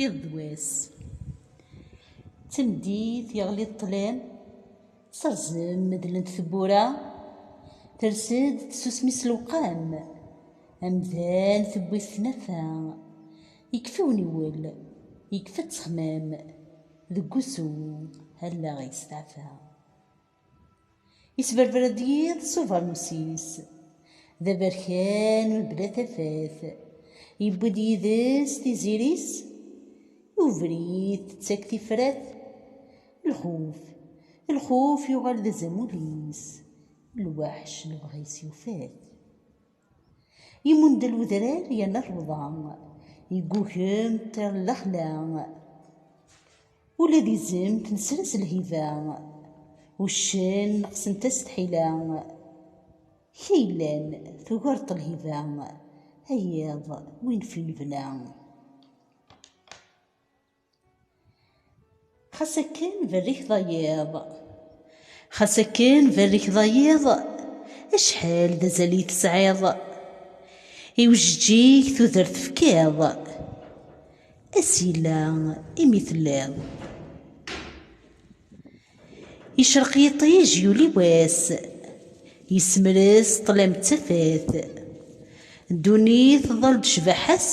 iḍ d wass temdit yeɣli ṭṭlam serzen medlent tewwura ters-d tsusmi s lewqam amdan tewwi tnafa yekfa uniwel yekfa ttexmam deg usu allaɣ yesteɛfa Isberber-d yiḍ s ubeṛnus-is, d aberkan mebla tafat, yewwi-d yid-s tiziri-s, i ubrid tettak tifrat, lxuf, lxuf yuɣal d azamul-is, lweḥc lebɣi-s yufa-t. Imundel udrar yerna rrewḍa, Yeggugem ṭṭir n lexla. Ula d izem nesra-s lhiba, Uccen neqsent-as tḥila. Kra yellan tugareḍ-t lhiba, A yiḍ win f-i nebna. Xas akken berrik d ayiḍ. Xas akken berrik d ayiḍ, acḥal d azal i tesɛiḍ. I ujeǧǧig tudert tefkiḍ, ass yella imi telliḍ. Icreq yiṭij yuli wass Yessemres ṭlam d tafat Ddunit tḍall-d cbaḥa-s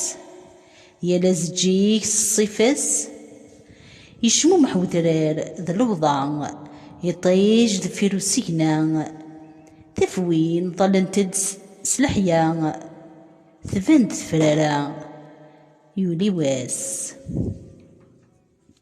Yal azeǧǧig s ṣṣifa-s Yecmumeḥ wedrar d lewḍa Iṭij deffir usigna Tafwin ḍallent-d s leḥya Tban-d tefrara yuli wass